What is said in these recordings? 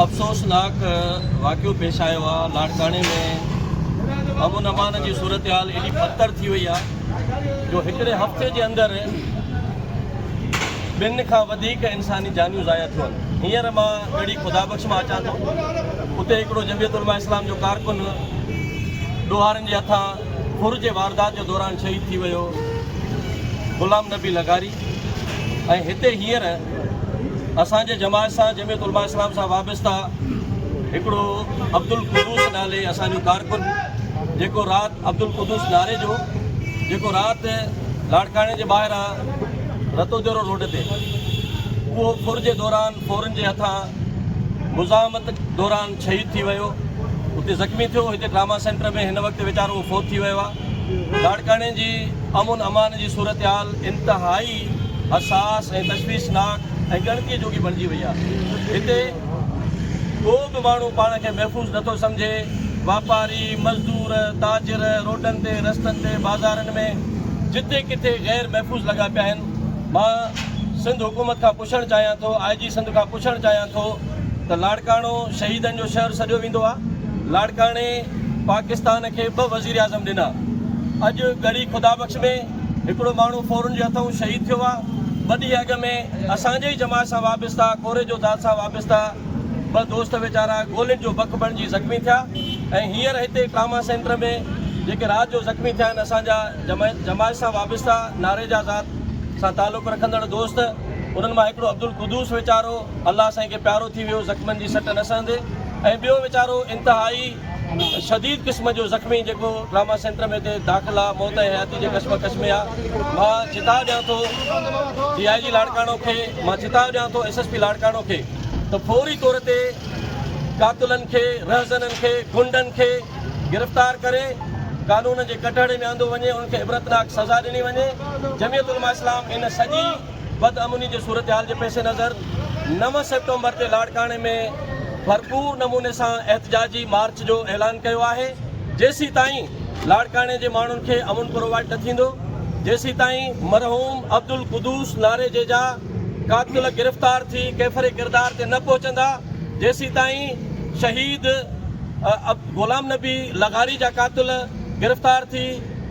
افسوسناڪ واقعو پيش آيو آ لاڙڪاڻي ۾ امن امان جي صورتحال ايڏي بدتر ٿي وئي آ جو هڪڙي هفتي جي اندر ٻن کان وڌيڪ انساني جانيون ضايع ٿيون هينئر مان ڳڙهي خدا بخش مان اچان ٿو اتي هڪڙو جميعت علماء اسلام جو ڪارڪن ڏوهارن جي هٿان ڦر جي واردات جي دوران شهيد ٿي ويو غلام نبي لغاري ۽ هتي هينئر اسان جي جماعت سان جميعت علماء اسلام سان وابسته هڪڙو عبدالقدوس نالي اسان جو ڪارڪن جيڪو رات عبدالقدوس ناري جو جيڪو رات لاڙڪاڻي جي ٻاهران رتو جورو روڊ تي اهو ڦر جي دوران فورن جي هٿان مزاحمت دوران شهيد ٿي ويو هتي زخمي ٿيو هتي ڊراما سينٽر ۾ هن وقت ويچارو فوت ٿي ويو آهي لاڙڪاڻي جي امن امان جي صورتحال انتهائي حساس ۽ تشويشناڪ ۽ ڳڻتي جوڳي بڻجي وئي آهي هتي ڪو به ماڻهو پاڻ کي محفوظ نٿو سمجهي واپاري مزدور تاجر روڊن تي رستن تي بازارن ۾ جتي ڪٿي غير محفوظ لڳا پيا آهن مان سنڌ حڪومت کان پڇڻ چاهيان ٿو آء جي سنڌ کان پڇڻ چاهيان ٿو ته لاڙڪاڻو شهيدن جو شهر سڏيو ويندو آ لاڙڪاڻي پاڪستان کي ٻه وزيراعظم ڏنا اڄ ڳڙهي خدا بخش ۾ هڪڙو ماڻهو فورن جي هٿئون شهيد ٿيو آ ٻه ڏينهن اڳ ۾ اسان جي ئي جماعت سان وابستا ڪوري جو ذات سان وابستا ٻه دوست ويچارا گولين جو بک بڻجي زخمي ٿيا ۽ هينئر هتي ٽراما سينٽر ۾ جيڪي رات جو زخمي ٿيا آهن اسان جا جماعت سان وابسته نعري جا ذات سان تعلق رکندڙ دوست انهن مان هڪڙو عبدالقدوس ويچارو الله سائين کي پيارو ٿي ويو زخمن جي سٽ نه سهندي ۽ ٻيو ويچارو انتهائي شديد قسم جو زخمي جيڪو ٽراما سينٽر ۾ هتي داخل آ موت ۽ حياتي جي ڪشمڪش ۾ آ مان چتاء ڏيان ٿو ڊي آء جي لاڙڪاڻو کي مان چتاء ڏيان ٿو ايس ايس پي لاڙڪاڻو کي ته فوري طور تي قاتلن کي رهزنن کي غنڊن کي گرفتار ڪري قانون جي ڪٽهڙي ۾ آندو وڃي ان کي عبرتناڪ سزا ڏني وڃي جمعيت علماء اسلام ان سڄي بد امني جي صورتحال جي پيش نظر نو سيپٽمبر تي لاڙڪاڻي ۾ ڀرپور نموني سان احتجاجي مارچ جو اعلان ڪيو آهي جيسيتائين لاڙڪاڻي جي ماڻهن کي امن پرووائيڊ نه ٿيندو جيسيتائين مرحوم عبدالقدوس ناريجيجا قاتل گرفتار ٿي ڪيفر ڪردار تي نه پهچندا جيسيتائين شهيد غلام نبي لغاري جا قاتل گرفتار ٿي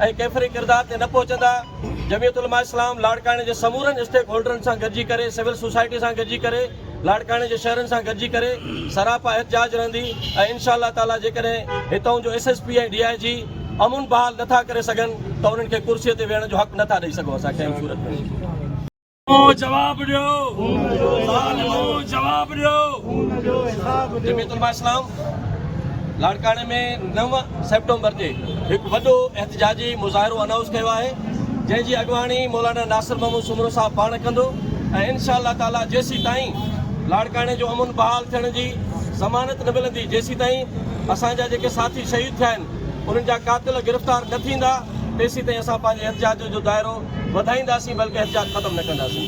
۽ ڪيفر ڪردار تي نه پهچندا جميعت علماء اسلام لاڙڪاڻي جي سمورن اسٽيڪ هولڊرن سان گڏجي ڪري سول سوسائٽي سان گڏجي ڪري لاڙڪاڻي جي شهرين سان گڏجي ڪري سراپا احتجاج رهندي ۽ انشاء الله تعالي جيڪڏهن هتئون جو S S P ۽ D I G امن بحال نه ٿا ڪري سگهن ته انهن کي ڪرسي تي ويهڻ جو حق نه ٿا ڏئي سگهون اسان ڪنهن به صورت ۾ جواب ڏيو ظالمو جواب ڏيو جميعت علماء اسلام لاڙڪاڻي ۾ نو سيپٽمبر تي هڪ وڏو احتجاجي مظاهرو اناؤنس ڪيو آهي جنهن جي اڳواڻي مولانا ناصر محمود سومرو صاحب پاڻ ڪندو ۽ انشاء الله تعاليٰ جيسي تائين لاڙڪاڻي جو امن بحال ٿيڻ جي ضمانت نه ملندي جيسي تائين اسان جا جيڪي ساٿي شهيد ٿيا آهن انهن جا قاتل گرفتار نه ٿيندا تيسين تائين اسان پنهنجي احتجاج جو دائرو وڌائينداسين بلڪه احتجاج ختم نه ڪنداسين.